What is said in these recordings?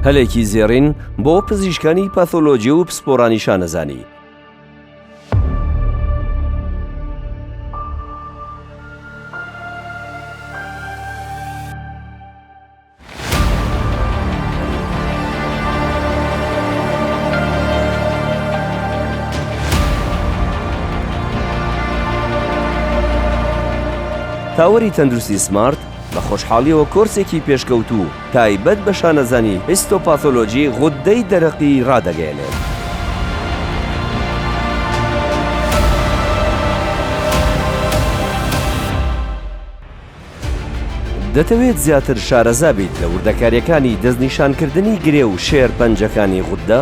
هەلێکی زێڕین بۆ پزیشکانی پاثۆلۆجی و پسپۆرانی شانەزانی. تاوەری تەندروستی سمارت بە خۆشحاڵیەوە کۆرسێکی پێشکەوتوو تایبەت بە شانەزانی هیستۆپاثۆلۆجی غوددەی دەرەقی ڕادەگەیەنێت. دەتەوێت زیاتر شارەزا بیت لە وردەکارییەکانی دەستنیشانکردنی گرێ و شێرپەنجەکانی غوددە؟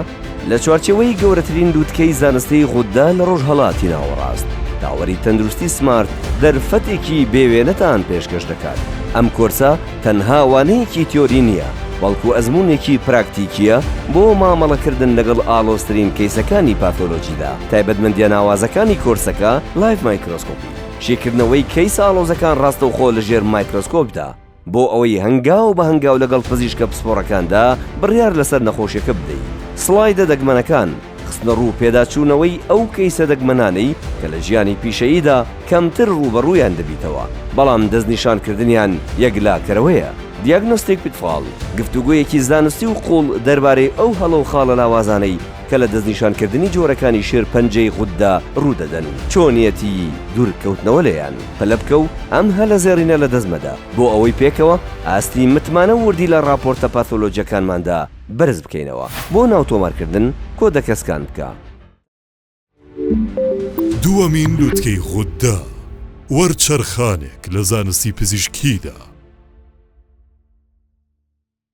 لە چوارچێوەی گەورەترین لووتکەی زانستیی غوددا لە ڕۆژهەڵاتی ناوەڕاست، تاوەری تەندروستی سمارت دەرفەتێکی بێوێنەتان پێشکەش دەکات. ئەم کۆرسە تەنها وانەیەکی تیۆری نییە، بەڵکو ئەزموونێکی پراکتیکییە بۆ مامەڵەکردن لەگەڵ ئاڵۆزترین کەیسەکانی پاثۆلۆجیدا. تایبەتمەندییە ناوازەکانی کۆرسەکە، لایڤ مایکرۆسکۆپی، شیکردنەوەی کەیسە ئاڵۆزەکان ڕاستەوخۆ لەژێر مایکرۆسکۆپدا، بۆ ئەوەی هەنگاو بە هەنگاو لەگەڵ پزیشکە پسپۆڕەکاندا بڕیار لەسەر نەخۆشیەکە بدەیت. سڵایدە دەگمەنەکان، خستنەڕوو پێداچوونەوەی ئەو کەیسە دەگمەنانەی کە لە ژیانی پیشەییدا کەمتر ڕووبەڕوویان دەبیتەوە، بەڵام دەستنیشانکردنیان یەکلاکەرەوەیە. دیاگنۆستیک پیتفال، گفتوگۆیەکی زانستی و قووڵ دەربارەی ئەو هەڵە و خاڵە لاوازانەی، کە لە دەستنیشانکردنی جۆرەکانی شێرپەنجەی غوددا ڕوودەدەن، چۆنیەتیی دوورکەوتنەوە لێیان پەلە بکە و ئەم هەلە زێڕینە لەدەست مەدە، بۆ ئەوەی پێکەوە ئاستی متمانە و وردی لە ڕاپۆرتە پاثۆلۆجیەکانماندا بەرز بکەینەوە. بۆ ناوتۆمارکردن، کۆدەکە سکان بکە. دووەمین لوتکەی غوددا، وەرچەرخانێک لە زانستی پزیشکییدا.